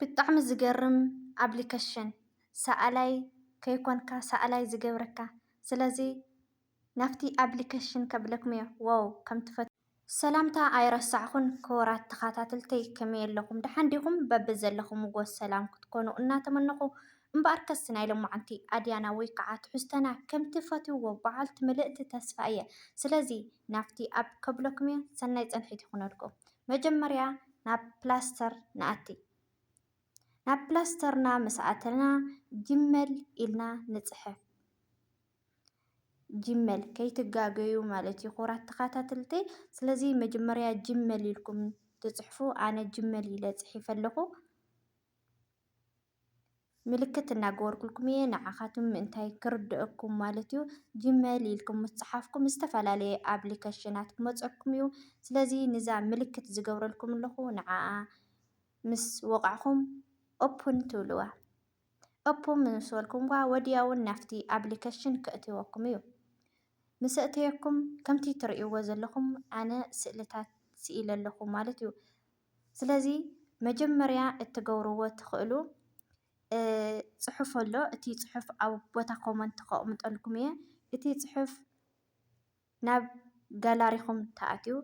ብጣዕሚ ዝገርም ኣፕሊከሽን ሰኣላይ ከይኮንካ ሰኣላይ ዝገብረካ ስለዚ ናብቲ ኣፕሊከሽን ከብለኩም እየ ዋው ከም ትፈትዉኒ። ሰላምታ ኣይረሳዕኩን ክቡራት ተኻታተልተይ ከመይ ኣለኹም ደሓን ዲኹም በብዘለኹምዎ ሰላም ክትኮኑ እናተመነኹ እምበኣርከስ ናይ ሎማዓንቲ ኣድያና ወይከዓ ትሕዝቶና ከምቲ ፈትውዎ በዓልቲ ምልእቲ ተስፋ እየ ስለዚ ናብቲ ኣፕ ከብለኩም እየ ሰናይ ፅንሒት ይኹነልኩም መጀመርያ ናብ ፕላስተር ንኣቲ። ናብ ፕላስተርና ምስ ኣተና ጂመል ኢልና ንጽሕፍ። ጂመል ከይትጋገዩ ማለት እዩ ክቡራት ተኸታተልቲ። ስለዚ መጀመርያ ጂመል ኢልኩም ትጽሕፉ። ኣነ ጂመል ኢለ ጽሒፈ ኣለኹ። ምልክት እናገበርኩልኩም እየ ንዓኻትም ምእንታይ ክርደኣኩም ማለት እዩ ጂመይል ኢልኩም ምስ ጸሓፍኩም ዝተፈላለየ ኣብሊከሽናት ክመጸኩም እዩ ስለዚ ንዛ ምልክት ዝገብረልኩም ኣለኹ ንዓኣ ምስ ወቓዕኹም ኦፕን ትብልዋ ኦፕን ምስ በልኩምዋ ወዲያውን ናፍቲ ኣብሊከሽን ከእትወኩም እዩ ምስ ኣእተየኩም ከምቲ ትርእይዎ ዘለኹም ኣነ ስእልታት ስኢለ ኣለኹ ማለት እዩ። ስለዚ መጀመርያ እትገብርዎ እትኽእሉ ፅሑፍ ኣሎ። እቲ ፅሑፍ ኣብ ቦታ ኮመንት ከቅምጠልኩም እየ። እቲ ፅሑፍ ናብ ጋላሪኹም ትኣትዩ።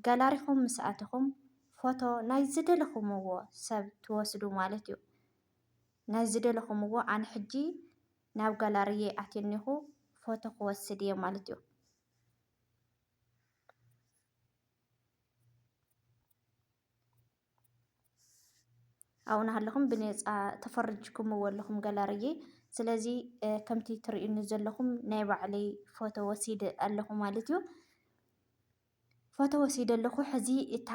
ጋላሪኹም ምስ ኣተኹም ፎቶ ናይ ዝደለኹምዎ ሰብ ትወስዱ ማለት እዩ። ናይ ዝደለኹምዎ ኣነ ሕጂ ናብ ጋላሪየይ ኣትየ እኒኹ ፎቶ ክወስድ እየ ማለት እዩ። ኣብኡ እናሃለኹም ብነፃ ተፈሪጅኩምዎ ኣለኹም ገላርየ ስለዚ ከምቲ ትሪኡኒ ዘለኹም ናይ ባዕለይ ፎቶ ወሲደ ኣለኹ ማለት እዩ። ፎቶ ወሲደ ኣለኹ ሕዚ እታ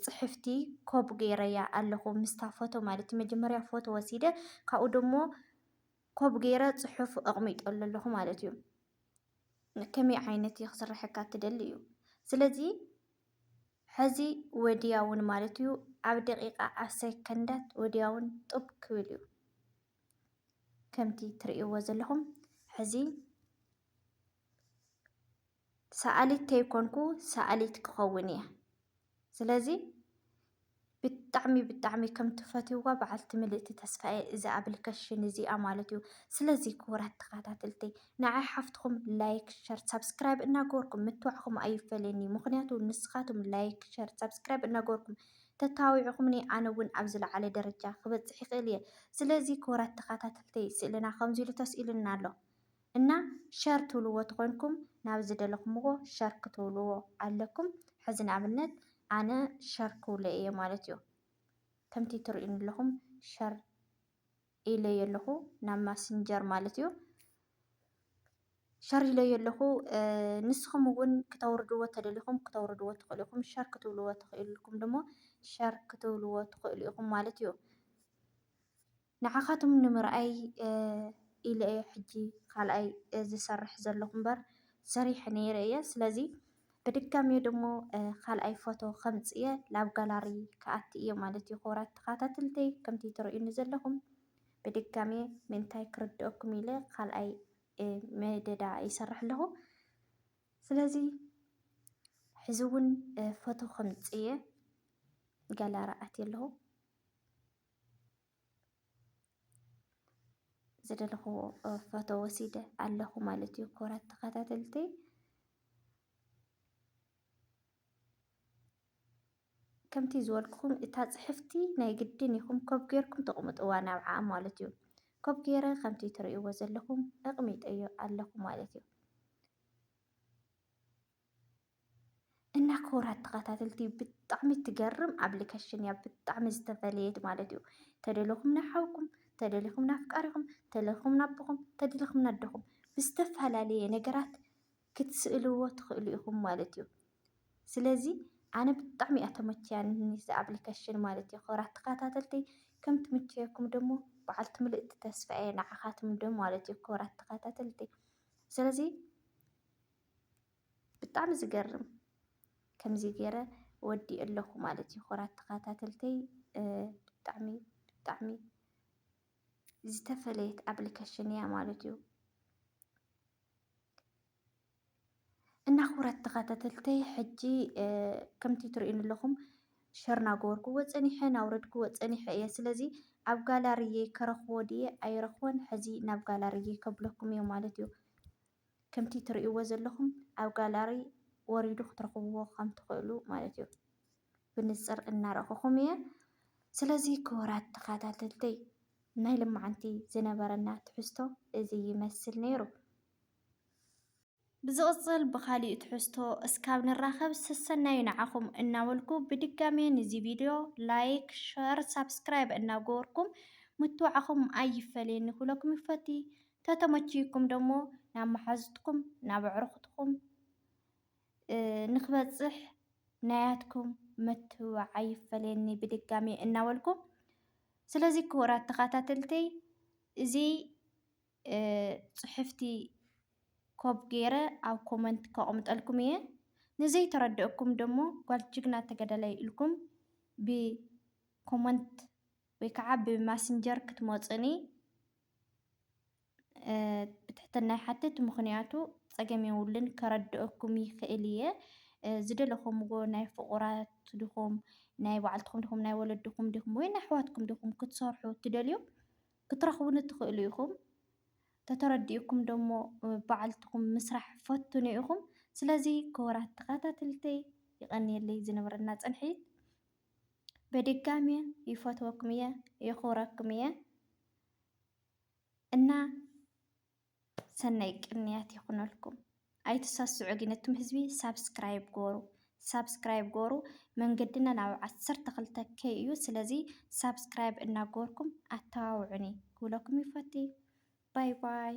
ፅሕፍቲ ኮፒ ገይረያ ኣለኹ ምስታ ፎቶ ማለት እዩ። መጀመርያ ፎቶ ወሲደ ካብኡ ደሞ ኮብ ገይረ ጽሑፍ ኣቕሚጠሉ ኣለኹ ማለት እዩ። ከመይ ዓይነት እዩ ክስርሐካ ትደሊ እዩ። ስለዚ ሕዚ ወዲያውን ማለት እዩ ኣብ ደቂቃ ኣብ ሰከንዳት ወዲያውን ጡብ ክብል እዩ። ከምቲ ትርእይዎ ዘለኹም ሕዚ ሰኣሊት ተይኮንኩ ሰኣሊት ክኸውን እየ። ስለዚ ብጣዕሚ ብጣዕሚ ከም ትፈትይዋ በዓልቲ ምልእቲ ተስፋየ እዚ ኣብሊከሽን እዚኣ ማለት እዩ። ስለዚ ክቡራት ተኸታተልቲ ንዓይ ሓፍትኹም ላይክ፣ ሸር፣ ሳብስክራይብ እናገበርኩም ምትብባዕኹም ኣይፈለየኒ። ምኽንያቱ ንስኻትኩም ላይክ፣ ሸር፣ ሳብስክራይብ እናገበርኩም ተታቢዕኹምኒ ኣነ እውን ኣብ ዝለዓለ ደረጃ ክበፅሕ ይኽእል እየ። ስለዚ ክቡራት ተኸታተልቲ ስእልና ከምዚ ኢሉ ተስኢሉና ኣሎ። እና ሸር ትብልዎ ተኮንኩም ናብ ዝደለኩምዎ ሸር ክትብልዎ ኣለኩም ሕዚ ንኣብነት ኣነ ሸር ክብሎ እየ ማለት እዩ ከምቲ ትርእዩኒ ኣለኹም ሸር ኢለዮ ኣለኹ ናብ ማስንጀር ማለት እዩ ሸር ኢለዮ ኣለኹ ንስኹም እውን ክተውርድዎ ተደሊኹም ክተውርድዎ ትኽእሉ ኢኹም ሸር ክትብልዎ ትኽእልኩም ድማ ሸር ክትብልዎ ትኽእሉ ኢኹም ማለት እዩ ንዓኻትም ንምርኣይ ኢለ እየ ሕጂ ካልኣይ ዝሰርሕ ዘለኹ እምበር ሰሪሐ ነይረ እየ ስለዚ ብድጋሜ ደሞ ካልኣይ ፎቶ ከምጽ እየ ላብ ጋላሪ ክኣቲ እየ ማለት እዩ ክቡራት ተኻታትልተይ ከምቲ ትርእዩኒ ዘለኹም ብድጋሜ ምእንታይ ክርድኦኩም ኢለ ካልኣይ መደዳ ይሰርሕ ኣለኹ ስለዚ ሕዚ እውን ፎቶ ከምጽ እየ ጋላሪ ኣትየ ኣለኹ ዝደለኹዎ ፎቶ ወሲደ ኣለኹ ማለት እዩ። ክቡራት ተኸታተልቲ ከምቲ ዝበልኩኹም እታ ፅሕፍቲ ናይ ግድን ኢኹም ኮብ ጌርኩም ተቕምጥዋ ናብዓ ማለት እዩ። ኮብ ጌረ ከምቲ ትርእይዎ ዘለኹም እቕሚጠዮ ኣለኹ ማለት እዩ። እና ክቡራት ተኸታተልቲ ብጣዕሚ ትገርም ኣፕሊኬሽን እያ ብጣዕሚ ዝተፈለየት ማለት እዩ። ተደለኹም ንሓውኩም፣ ተደለኹም ንኣፍቃሪኹም፣ ተደለኹም ንኣቦኹም፣ ተደለኹም ንኣደኹም ብዝተፈላለየ ነገራት ክትስእልዎ ትኽእሉ ኢኹም ማለት እዩ። ስለዚ ኣነ ብጣዕሚ እያ ተመችያኒ እዛ ኣፕሊኬሽን ማለት እዩ። ክቡራት ተኸታተልቲ ከም ትምችየኩም ደሞ በዓልቲ ምልእቲ ተስፋ እየ ንዓኻትኩም ዶ ማለት እዩ ክቡራት ተኸታተልቲ ስለዚ ብጣዕሚ ዝገርም ከምዚ ገይረ ወዲኤ ኣለኹ ማለት እዩ። ክቡራት ተኸታተልተይ ብጣዕሚ ብጣዕሚ ዝተፈለየት ኣፕሊኬሽን እያ ማለት እዩ። እና ክቡራት ተኸታተልተይ ሕጂ ከምቲ ትርእዩኒ ኣለኹም ሸር እናገበርኩዎ ፀኒሐ እናውረድኩዎ ፀኒሐ እየ። ስለዚ ኣብ ጋላሪየይ ከረኽቦ ድየ ኣይረኽቦን ሕዚ ናብ ጋላሪየይ ከብለኩም እየ ማለት እዩ። ከምቲ ትርእይዎ ዘለኹም ኣብ ጋላሪ ወሪዱ ክትረኽብዎ ከም ትኽእሉ ማለት እዩ። ብንጽር እናረእኹኹም እየ። ስለዚ ክቡራት ተኸታተልተይ ናይ ልማዓንቲ ዝነበረና ትሕዝቶ እዚ ይመስል ነይሩ። ብዝቕጽል ብኻሊእ ትሕዝቶ እስካብ ንራኸብ ሰሰናዩ ንዓኹም እናበልኩ ብድጋሜ ንዚ ቪድዮ ላይክ፣ ሸር፣ ሳብስክራይብ እናገበርኩም ምትብባዕኹም ኣይፈለየኒ ክብለኩም ይፈቲ። ተተመችዩኩም ደሞ ናብ መሓዙትኩም ናብ ኣዕሩኹትኩም ንክበፅሕ ናያትኩም ምትብባዕ ኣይፈለየኒ ብድጋሚ እናበልኩ ስለዚ ክቡራት ተኸታተልተይ እዚ ፅሕፍቲ ኮብ ገይረ ኣብ ኮመንት ከቕምጠልኩም እየ። ንዘይተረድአኩም ደሞ ጓል ጅግና ተገዳላይ ኢልኩም ብኮመንት ወይ ከዓ ብማስንጀር ክትመፁኒ ብትሕትና ይሓትት ምኽንያቱ ፀገም የብሉን ከረድኣኩም ይኽእል እየ ዝደለኹምዎ ናይ ፍቑራት ድኹም ናይ ባዕልትኹም ድኹም ናይ ወለድኹም ድኹም ወይ ናይ ኣሕዋትኩም ድኹም ክትሰርሑ እትደልዩ ክትረኽቡኒ ትኽእሉ ኢኹም ተተረዲኡኩም ደሞ ባዕልትኹም ምስራሕ ፈትኑ ኢኹም ስለዚ ክቡራት ተኸታተልተይ ይቐንየለይ ዝነበረና ፅንሒት በድጋሚ ይፈትወኩም እየ የኽብረኩም እየ። እና ሰናይ ቅንያት ይኹነልኩም። ኣይትሰስዑ ግን እቱም ህዝቢ ሳብስክራይብ ጎሩ ሳብስክራይብ ጎሩ መንገድና ናብ ዓሰርተ ክልተ ከይ እዩ ስለዚ ሳብስክራይብ እናጎርኩም ኣተባብዑኒ ክብለኩም ይፈቲ ባይ ባይ